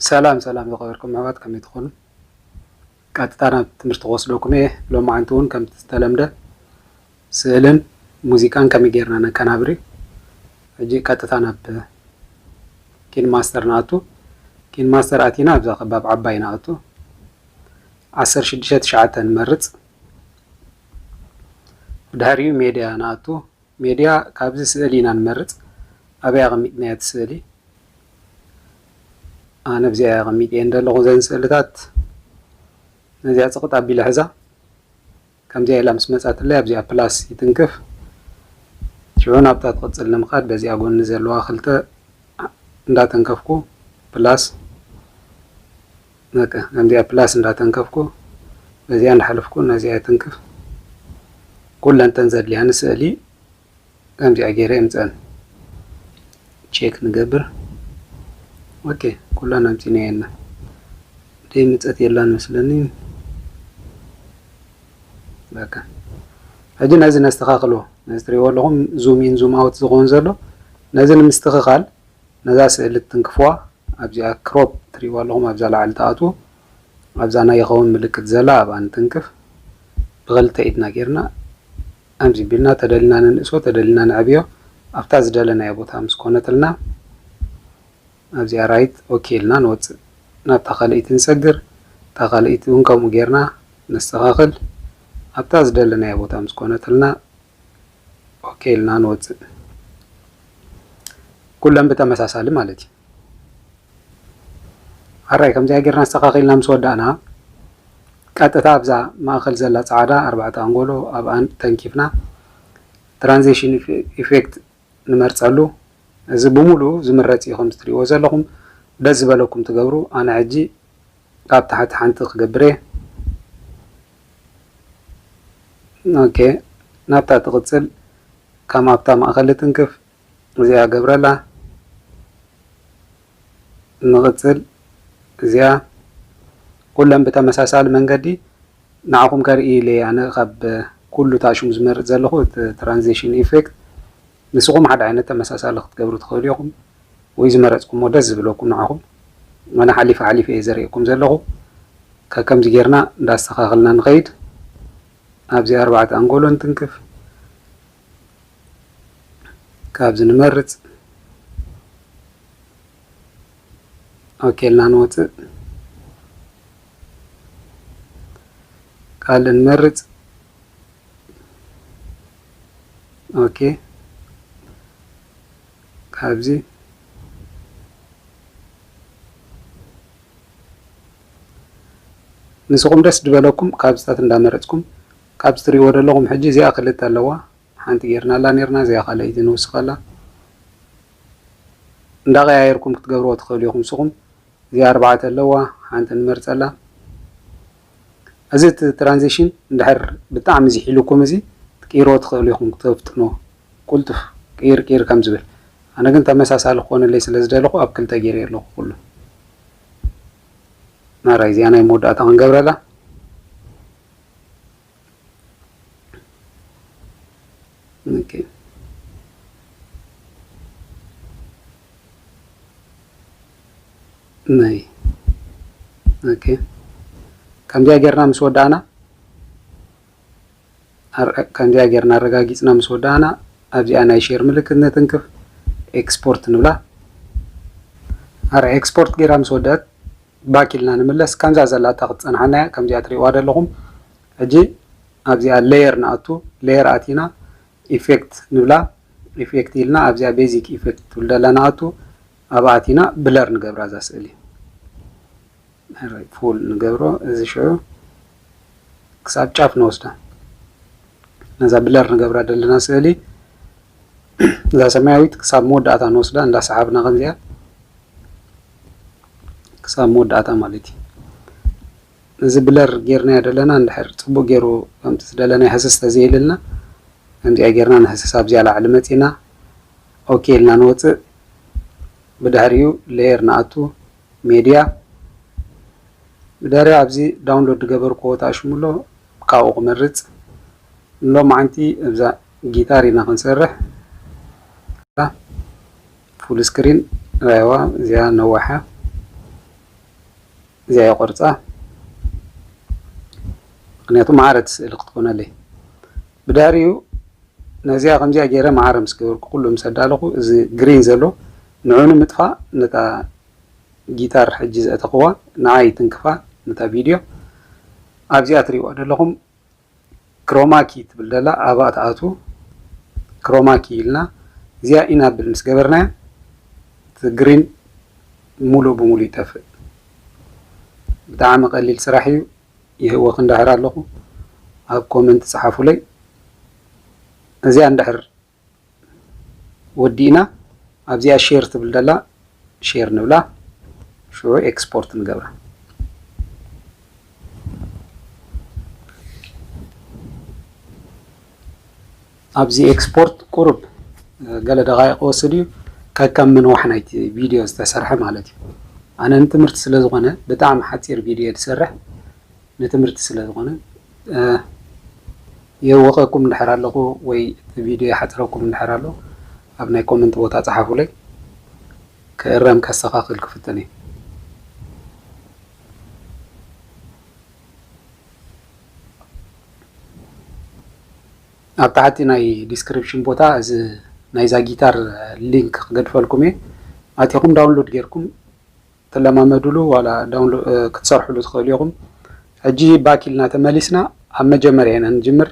ሰላም ሰላም ዝኸበርኩም ኣሕዋት ከመይ ትኾኑ ቀጥታ ናብ ትምህርቲ ክወስደኩም እየ ሎማዓንቲ እውን ከምቲ ዝተለምደ ስእልን ሙዚቃን ከመይ ጌርና ነቀናብሪ ሕጂ ቀጥታ ናብ ኪን ማስተር ንኣቱ ኪን ማስተር ኣቲና ኣብዛ ከባብ ዓባይ ንኣቱ ዓሰርተ ሽዱሽተ ትሽዓተ ንመርጽ ብድሕሪኡ ሜድያ ንኣቱ ሜድያ ካብዚ ስእሊ ኢና ንመርጽ ኣበይ ኣቀሚጥናያ እቲ ስእሊ ኣነ ኣብዚኣ እየ ኣቀሚጠየን ዘለኩ እዘን ስእልታት ነዚኣ ጽቅጥ ኣቢለ ሕዛ ከምዚኣ ኢላ ምስ መጻትለይ ኣብዚኣ ፕላስ ይትንክፍ ሽዑ ናብታ ትቅጽል ንምካድ በዚኣ ጎኒ ዘለዋ ክልተ እንዳተንከፍኩ ፕላስ በቃ ከምዚኣ ፕላስ እንዳተንከፍኩ በዚኣ እንዳሓለፍኩ ነዚኣ ይትንክፍ ኩለን ተን ዘድልያኒ ስእሊ ከምዚኣ ጌረ የምጸን ቼክ ንገብር ኦኬ ኩለን ኣምጺናየና ደይ ምጸት የላን መስለኒ በቃ ሕጂ ነዚ ነስተኻኽሎ ነዚ ትሪእዎ ኣለኹም ዙም ኢን ዙም ኣውት ዝኸውን ዘሎ ነዚ ንምስትኽኻል ነዛ ስእሊ ትትንክፍዋ ኣብዚኣ ክሮፕ ትሪእዋ ኣለኹም ኣብዛ ላዕሊ ትኣትዉ ኣብዛ ናይ ይኸውን ምልክት ዘላ ኣብኣ ንትንክፍ ብኽልተ ኢድና ጌርና ኣምዚ ቢልና ተደሊና ንንእሶ ተደሊና ነዕብዮ ኣብታ ዝደለናዮ ቦታ ምስ ኮነትልና ኣብዚኣ ራይት ኦኬ ኢልና ንወጽእ ናብታ ካልእይቲ ንሰግር እታ ካልእይቲ እውን ከምኡ ጌርና ነስተኻኽል ኣብታ ዝደለናዮ ቦታ ምስ ኮነትልና ኦኬ ኢልና ንወፅእ። ኩለን ብተመሳሳሊ ማለት እዩ። ኣራይ ከምዚኣ ጌርና ኣስተኻኺልና ምስ ወዳእና ቀጥታ ኣብዛ ማእኸል ዘላ ፃዕዳ ኣርባዕተ ኣንጎሎ ኣብኣን ተንኪፍና ትራንዚሽን ኢፌክት ንመርፀሉ እዚ ብምሉኡ ዝምረፅ እዩ ከምዚ ትሪእዎ ዘለኹም ደስ ዝበለኩም ትገብሩ ኣነ ሕጂ ካብ ታሕቲ ሓንቲ ክገብርየ ኦኬ ናብታ ትቅጽል ካም ኣብታ ማእከል ልትንክፍ እዚኣ ገብረላ ንቅጽል እዚኣ ኩለን ብተመሳሳሊ መንገዲ ንዓኹም ከርኢ ኢለ ኣነ ካብ ኩሉ ታሽሙ ዝመርጽ ዘለኹ ትራንዚሽን ኢፌክት ንስኹም ሓደ ዓይነት ተመሳሳሊ ክትገብሩ ትኽእሉ ኢኹም ወይ ዝመረጽኩሞ ደስ ዝብለኩም ንዓኹም ወላ ሓሊፈ ሓሊፈ እየ ዘርእየኩም ዘለኹ ከከምዚ ጌርና እንዳስተኻኸልና ንኸይድ ኣብዚ ኣርባዕተ ኣንጎሎ ንትንክፍ ካብዚ ንመርጽ ኦኬ ኢልና ንወጽእ ካልእ ንመርጽ ኦኬ ካብዚ ንስኹም ደስ ዝበለኩም ካብዝታት እንዳመረፅኩም ካብ ዝትሪእዎ ዘለኹም ሕጂ እዚኣ ክልተ ኣለዋ ሓንቲ ጌርናላ ኔርና እዚኣ ካልኣይቲ ንውስኸላ እንዳቀያየርኩም ክትገብርዎ ትኽእሉ ኢኹም ንስኹም እዚኣ ኣርባዕተ ኣለዋ ሓንቲ ንመርፀላ እዚ እቲ ትራንዚሽን እንድሕር ብጣዕሚ ዝሒሉኩም እዚ ክትቅይርዎ ትኽእሉ ኢኹም ክተፍጥንዎ ቁልጡፍ ቅይር ቅይር ከም ዝብል ኣነ ግን ተመሳሳሊ ክኾነለይ ስለ ዝደለኹ ኣብ ክልተ ገይረዮ ኣለኹ ኩሉ ናራይ እዚኣ ናይ መወዳእታ ክንገብረላ ከምዚኣ ጌርና ምስ ወዳእና ከምዚኣ ጌርና ኣረጋጊፅና ምስ ወዳእና ኣብዚኣ ናይ ሼር ምልክት ነትንክፍ ኤክስፖርት ንብላ ኣረ ኤክስፖርት ጌራ ምስ ወደአት ባክ ኢልና ንምለስ ከምዛ ዘላታ ክትጸንሓና እያ ከምዚኣ ትሪእዋ ደለኹም ሕጂ ኣብዚኣ ለየር ንኣቱ ለየር ኣቲና ኢፌክት ንብላ ኢፌክት ኢልና ኣብዚኣ ቤዚክ ኢፌክት ትብል ደላ ንኣቱ ኣብኣ ኣቲና ብለር ንገብራ እዛ ስእሊ ፉል ንገብሮ እዚ ሽዑ ክሳብ ጫፍ ንወስዳ ነዛ ብለር ንገብራ ደለና ስእሊ እዛ ሰማያዊት ክሳብ መወዳእታ ንወስዳ እንዳሰሓብና ከምዚኣ ክሳብ መወዳእታ ማለት እዩ። ነዚ ብለር ጌርናዮ ደለና እንድሕር ጽቡቅ ጌሩ ከምቲ ዝደለናዮ ህስስ ተዘይኢሉልና ከምዚኣ ጌርና ንህስስ ኣብዚኣ ላዕሊ መጺና ኦኬ ኢልና ንወጽእ ብድሕሪኡ ሌየር ንኣቱ ሜድያ ብድሕሪኡ ኣብዚ ዳውንሎድ ዝገበርክዎ ተኣሽሙ ኣሎ ካብኡ ክመርጽ ንሎማዓንቲ እብዛ ጊታር ኢና ክንሰርሕ ፉል ስክሪን ራይዋ እዚኣ ነዋሓ እዚኣ የቆርፃ ምክንያቱ ማዕረ እቲ ስእሊ ክትኮነለይ ብዳሪኡ ነዚኣ ከምዚኣ ገይረ ማዕረ ምስ ገበርኩ ኩሉ ምስ ኣዳለኹ እዚ ግሪን ዘሎ ንዑ ንምጥፋእ ነታ ጊታር ሕጂ ዘእተኽዋ ንዓ ይትንክፋ ነታ ቪድዮ ኣብዚኣ ትሪእዋ ዘለኹም ክሮማ ኪ ትብል ደላ ኣብኣ ትኣትዉ ክሮማ ኪ ኢልና እዚኣ ኢናብል ምስ ገበርናያ እቲ ግሪን ሙሉእ ብሙሉእ ይጠፍእ ብጣዕሚ ቀሊል ስራሕ እዩ ይህወኽ እንዳሕር ኣለኹ ኣብ ኮመንት ጸሓፉለይ እዚኣ እንዳሕር ወዲእና ኣብዚኣ ሼር ትብል ዘላ ሼር ንብላ ሽዑ ኤክስፖርት ንገብራ። ኣብዚ ኤክስፖርት ቁሩብ ገለ ደቃይቅ ክወስድ እዩ ከከም ምንዋሕ ናይቲ ቪድዮ ዝተሰርሐ ማለት እዩ። ኣነ ንትምህርቲ ስለዝኾነ ብጣዕሚ ሓፂር ቪድዮ እየ ዝሰርሕ ንትምህርቲ ስለዝኾነ የወቀኩም እንድሕር ኣለኩ ወይ እቲ ቪድዮ ይሓፅረኩም እንድሕር ኣሎ ኣብ ናይ ኮመንት ቦታ ፀሓፉለይ ክእረም ከስተካክል ክፍትን እየ። ኣብ ታሕቲ ናይ ዲስክሪፕሽን ቦታ እዚ ናይዛ ጊታር ሊንክ ክገድፈልኩም እየ ኣቲኹም ዳውንሎድ ጌርኩም ክትለማመድሉ ዋላ ዳውን ክትሰርሕሉ ትኽእሉ ኢኹም። ሕጂ ባክ ኢልና ተመሊስና ኣብ መጀመርያ ኢና ንጅምር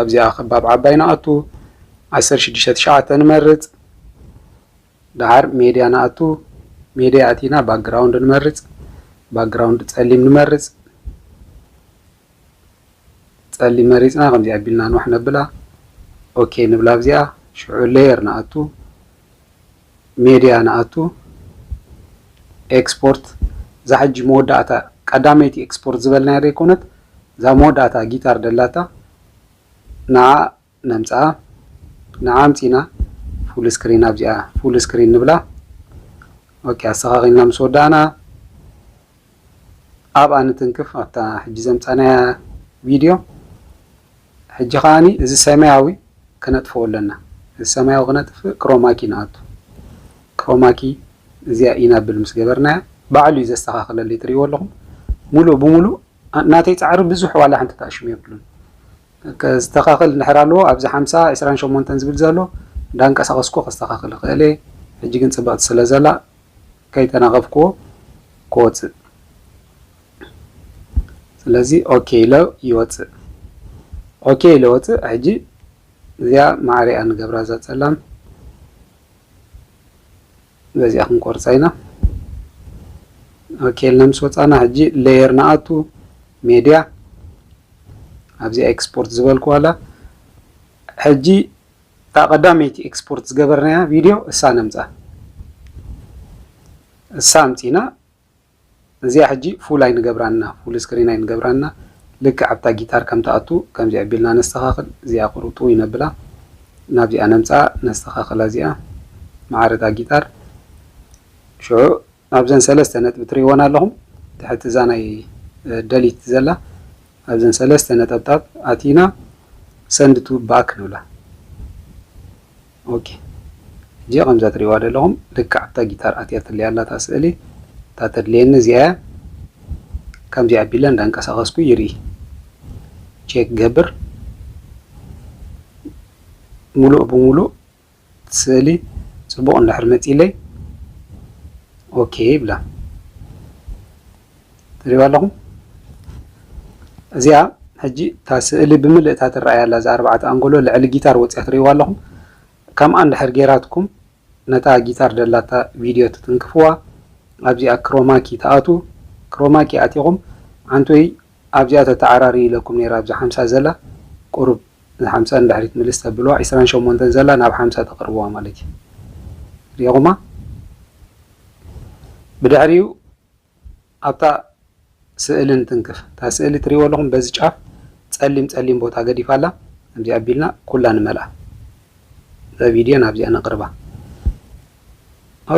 ኣብዚኣ ከባብ ዓባይ ንኣቱ ዓሰርተ ሽዱሽተ ትሽዓተ ንመርጽ ደሓር ሜድያ ንኣቱ ሜድያ ኣቲና ባክግራውንድ ንመርጽ ባክግራውንድ ጸሊም ንመርጽ ጸሊም መሪጽና ከምዚ ኣቢልና ንዋሕ ነብላ ኦኬ ንብላ ኣብዚኣ ሽዑ ሌየር ንኣቱ ሜድያ ንኣቱ ኤክስፖርት እዛ ሕጂ መወዳእታ ቀዳመይቲ ኤክስፖርት ዝበልናያ ደይኮነት እዛ መወዳእታ ጊታር ደላታ ንኣ ነምጽኣ ንኣ ኣምጺና ፉል ስክሪን ኣብዚኣ ፉል ስክሪን ንብላ ኦኬ ኣስተኻኺልና ምስ ወዳእና ኣብኣ ንትንክፍ ኣብታ ሕጂ ዘምጻናያ ቪድዮ ሕጂ ከኣ እዚ ሰማያዊ ከነጥፍኦ ኣለና እዚ ሰማያዊ ክነጥፍእ ክሮማኪ ንኣቱ ክሮማኪ እዚኣ ኢናብል ምስ ገበርናያ ባዕሉ እዩ ዘስተካክለለይ ትሪእዎ ኣለኹም ሙሉእ ብሙሉእ ናተይ ጻዕሪ ብዙሕ ዋላ ሓንቲ ተኣሽሙ የብሉን ከስተካክል እንድሕር ኣለዎ ኣብዚ ሓምሳ ዕስራን ሸሞንተን ዝብል ዘሎ እንዳንቀሳቀስኩ ከስተካክል ይኽእል ሕጂ ግን ጽብቕቲ ስለ ዘላ ከይተናቀፍክዎ ክወፅእ ስለዚ ኦኬ ኢሎ ይወፅእ ኦኬ ኢሎ ወፅእ ሕጂ እዚኣ ማዕሪኣ ንገብራ እዛ ፀላም በዚኣ ክንቆርፃ ኢና ኦኬ ኢልና ምስ ወፃና ሕጂ ሌየር ንኣቱ ሜድያ ኣብዚ ኤክስፖርት ዝበልኩ ዋላ ሕጂ እታ ቀዳመይቲ ኤክስፖርት ዝገበርናያ ቪድዮ እሳ ነምጻ እሳ ኣምጺና እዚኣ ሕጂ ፉል ኣይንገብራን እና ፉል ስክሪን ኣይንገብራን እና ልክዕ ኣብታ ጊታር ከም ትኣቱ ከምዚ ኣቢልና ነስተኻኽል እዚኣ ቁሩጡ ይነብላ ናብዚኣ ነምጻ ነስተኻኽላ እዚኣ መዓረታ ጊታር ሽዑ ኣብዘን ሰለስተ ነጥቢ ትርእይወን ኣለኹም ትሕቲ እዛ ናይ Delete ዘላ ኣብዘን ሰለስተ ነጠብጣብ ኣቲና Send to Back ንብላ ኦኬ ሕጂ ከምዛ ትርእይዋ ዘለኹም ልክዕ ኣብታ ጊታር ኣትያትለይ ኣላ እታ ስእሊ እታ ተድልየኒ እዚኣ እያ ከምዚ ኣቢለ እንዳንቀሳቐስኩ ይርኢ ቼክ ገብር ሙሉእ ብሙሉእ እቲ ስእሊ ጽቡቕ እንድሕር መጺኡለይ ኦኬ ይብላ። ትሪእዋ ኣለኹም? እዚኣ ሕጂ እታ ስእሊ ብምልእታ ትረኣይ ኣላ እዛ ኣርባዕተ ኣንጎሎ ልዕሊ ጊታር ወጺኣ ትሪእዋ ኣለኹም? ከምኣ እንድሕር ጌራትኩም ነታ ጊታር ደላታ ቪድዮ ትትንክፍዋ ኣብዚኣ ክሮማኪ ትኣትዉ ክሮማኪ ኣቲኹም ዓንቶይ ኣብዚኣ ተተዓራርዩ ኢለኩም ነይረ ኣብዛ ሓምሳ ዘላ ቁሩብ ንሓምሳ ንድሕሪት ምልስ ተብልዋ ዕስራን ሸሞንተን ዘላ ናብ ሓምሳ ተቅርብዋ ማለት እዩ ሪኢኩማ ብድሕሪኡ ኣብታ ስእሊ ንትንክፍ እታ ስእሊ ትሪእዎ ኣለኹም በዚ ጫፍ ጸሊም ጸሊም ቦታ ገዲፋ ኣላ ከምዚ ኣቢልና ኩላ ንመልኣ እዛ ቪድዮ ናብዚኣ ነቅርባ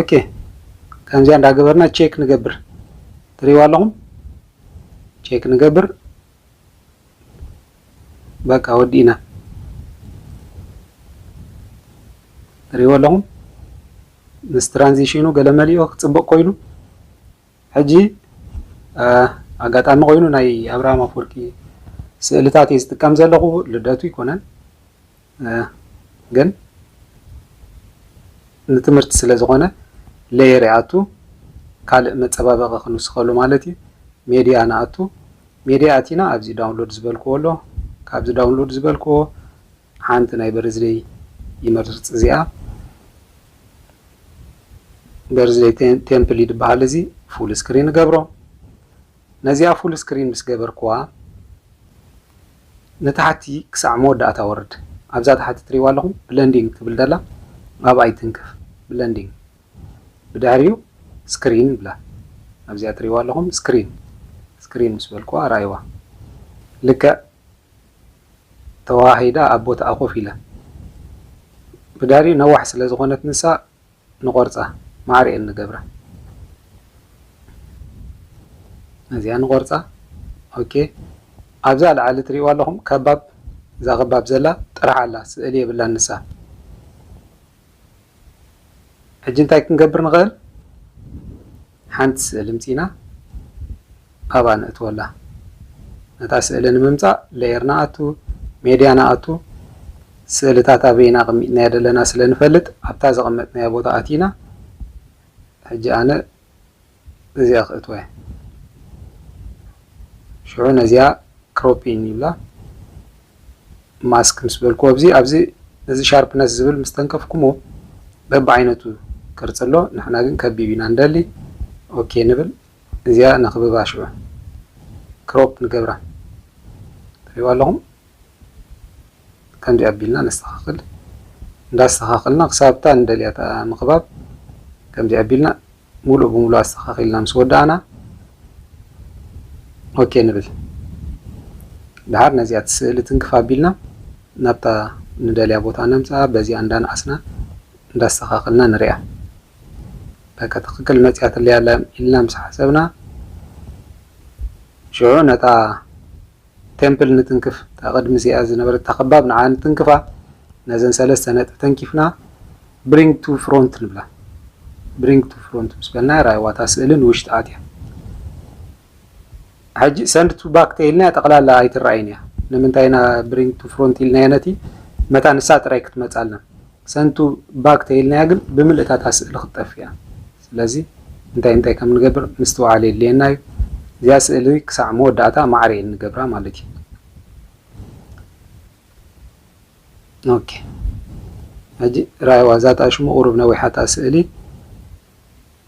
ኦኬ ከምዚኣ እንዳገበርና ቼክ ንገብር ትሪእዎ ኣለኹም ቼክ ንገብር በቃ ወዲእና ትሪእዎ ኣለኹም ምስ ትራንዚሽኑ ገለመሊኡ ክፅብቕ ኮይኑ ሕጂ ኣጋጣሚ ኮይኑ ናይ ኣብርሃም ኣፍወርቂ ስእልታት እየ ዝጥቀም ዘለኹ ልደቱ ኣይኮነን ግን ንትምህርቲ ስለ ዝኾነ ለየር ይኣቱ ካልእ መጸባበቂ ክንውስኸሉ ማለት እዩ ሜድያ ንኣቱ ሜድያ ኣቲና ኣብዚ ዳውንሎድ ዝበልክዎ ኣሎ ካብዚ ዳውንሎድ ዝበልክዎ ሓንቲ ናይ በርዝደይ ይመርጽ እዚኣ በርዝደይ ቴምፕል ይድበሃል እዚ ፉል ስክሪን ገብሮ ነዚኣ ፉል ስክሪን ምስ ገበርክዋ ንታሕቲ ክሳዕ መወዳእታ ወርድ ኣብዛ ታሕቲ ትሪእዋ ኣለኹም ብለንዲንግ ትብል ደላ ኣብኣ ይትንክፍ ብለንዲንግ ብድሕሪኡ ስክሪን ይብላ ኣብዚኣ ትሪእዋ ኣለኹም ስክሪን ስክሪን ምስ በልክዋ ራኣይዋ ልክዕ ተዋሃሂዳ ኣብ ቦትኣ ኮፍ ኢላ ብድሕሪኡ ነዋሕ ስለ ዝኾነት ንሳ ንቆርጻ ማዕሪኤል ንገብራ ነዚኣ ንቆርጻ ኦኬ ኣብዛ ላዓሊ ትሪእዋ ኣለኹም ከባብ እዛ ከባብ ዘላ ጥራሕ ኣላ ስእሊ የብላን ንሳ ሕጂ እንታይ ክንገብር ንኽእል ሓንቲ ስእሊ ምጺና ኣብኣ ነእትወላ። ነታ ስእሊ ንምምጻእ Layer ንኣቱ፣ Media ንኣቱ፣ ስእልታት ኣበይ ኢና ኣቐሚጥናያ ዘለና ስለ ንፈልጥ ኣብታ ዘቐመጥናያ ቦታ ኣቲና ሕጂ ኣነ እዚኣ ክእትወያ። ሽዑ ነዚኣ Cropping ይብላ። ማስክ ምስ በልክዎ እዚ ኣብዚ እዚ ሻርፕነስ ዝብል ምስ ተንከፍኩምዎ በብዓይነቱ ቅርጺ ኣሎ ንሕና ግን ከቢብ ኢና ንደሊ ኦኬ ንብል እዚኣ ነኽብባ ሽዑ ክሮፕ ንገብራ ትሪእዋ ኣለኹም ከምዚ ኣቢልና ነስተኻኽል እንዳስተኻኽልና ክሳብታ ንደልያ ምኽባብ ከምዚ ኣቢልና ሙሉእ ብሙሉእ ኣስተኻኺልና ምስ ወዳእና ኦኬ ንብል። ደሓር ነዚኣ ትስእሊ ትንክፍ ኣቢልና ናብታ ንደልያ ቦታ ነምፅኣ በዚኣ እንዳነኣስና እንዳስተኻኸልና ንሪኣ። በቃ ትኽክል መፂኣትለይ ኣላ ኢልና ምስ ሓሰብና ሽዑ ነታ። ቴምፕል ንትንክፍ፣ እታ ቅድሚ እዚኣ ዝነበረታ ከባብ ንዓ ንትንክፋ፣ ነዘን ሰለስተ ነጥቢ ተንኪፍና ብሪንግ ቱ ፍሮንት ንብላ። ብሪንግ ቱ ፍሮንት ምስ በልናያ ራኣይዋ እታ ስእሊ ንውሽጢ ኣትያ። ሕጂ ሰንድ ቱ ባክ ተኢልናያ ጠቕላላ ኣይትረኣይን እያ። ንምንታይ ኢና ብሪንግ ቱ ፍሮንት ኢልናያ ነቲ መታን ንሳ ጥራይ ክትመጻልና። Send to back ተይልናያ ግን ብምልእታ እታ ስእሊ ክትጠፍእ እያ ስለዚ እንታይ እንታይ ከም ንገብር ምስትውዓል የድልየና እዩ እዚኣ ስእሊ ክሳዕ መወዳእታ ማዕረ ኢል ንገብራ ማለት እዩ ኦኬ ሕጂ ራኣይዋ እዛ እታ ሽሙ ቁሩብ ነዊሓ እታ ስእሊ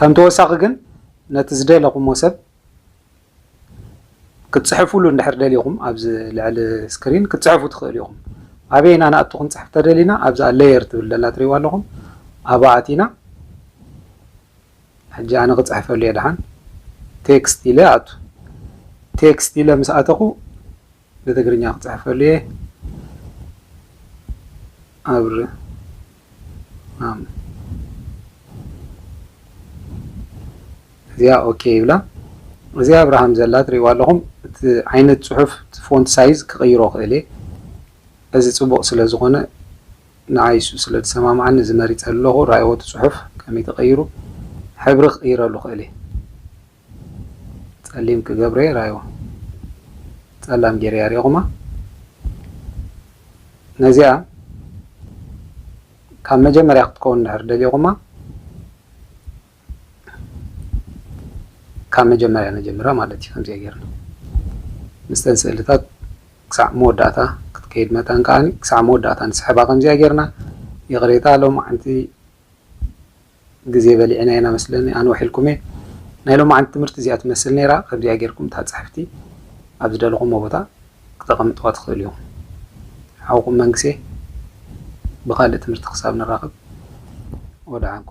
ከም ተወሳኺ ግን ነቲ ዝደለኹሞ ሰብ ክትጽሕፉሉ እንድሕር ደሊኹም ኣብዚ ልዕሊ ስክሪን ክትጽሕፉ ትኽእሉ ኢኹም። ኣበይ ኢና ንኣቱ ክንጽሕፍ ተደሊና ኣብዛ ሌየር ትብል ደላ ትሪእዋ ኣለኹም ኣብኣ ኣቲና ሕጂ ኣነ ክጽሕፈሉ እየ ድሓን ቴክስት ኢለ ኣቱ ቴክስት ኢለ ምስ ኣተኹ ብትግርኛ ክጽሕፈሉ እየ ኣብርሃም እዚኣ ኦኬ ይብላ እዚኣ ኣብርሃም ዘላ ትሪእዋ ኣለኹም እቲ ዓይነት ጽሑፍ ፎንት ሳይዝ ክቕይሮ ክእል እየ እዚ ጽቡቕ ስለ ዝኾነ ንዓይ እሱ ስለ ዝሰማምዓኒ እዚ መሪጸ ኣለኹ ራእይዎ እቲ ጽሑፍ ከመይ ተቐይሩ ሕብሪ ክቕይረሉ ክእል እየ ጸሊም ክገብረዮ ራይዋ ጸላም ጌረያ ሪኢኹማ ነዚኣ ካብ መጀመርያ ክትከውን ድሕር ደሊኹማ ካብ መጀመርያ ነጀምራ ማለት እዩ ከምዚኣ ጌርና ምስተን ስእልታት ክሳዕ መወዳእታ ክትከይድ መታን ከዓኒ ክሳዕ መወዳእታ ንስሕባ ከምዚኣ ጌርና ይቕሬታ ሎም ዓንቲ ግዜ በሊዕና ኢና መስለኒ ኣንውሕ ኢልኩም'የ። ናይ ሎማዓንቲ ትምህርቲ እዚኣ ትመስል ነይራ ከምዚኣ ጌርኩም እታ ጽሕፍቲ ኣብ ዝደለኹሞ ቦታ ክተቀምጥዋ ትኽእሉ ኢኹም። ሓውኩም መንግሴ ብኻልእ ትምህርቲ ክሳብ ንራኸብ ወደዓንኩ።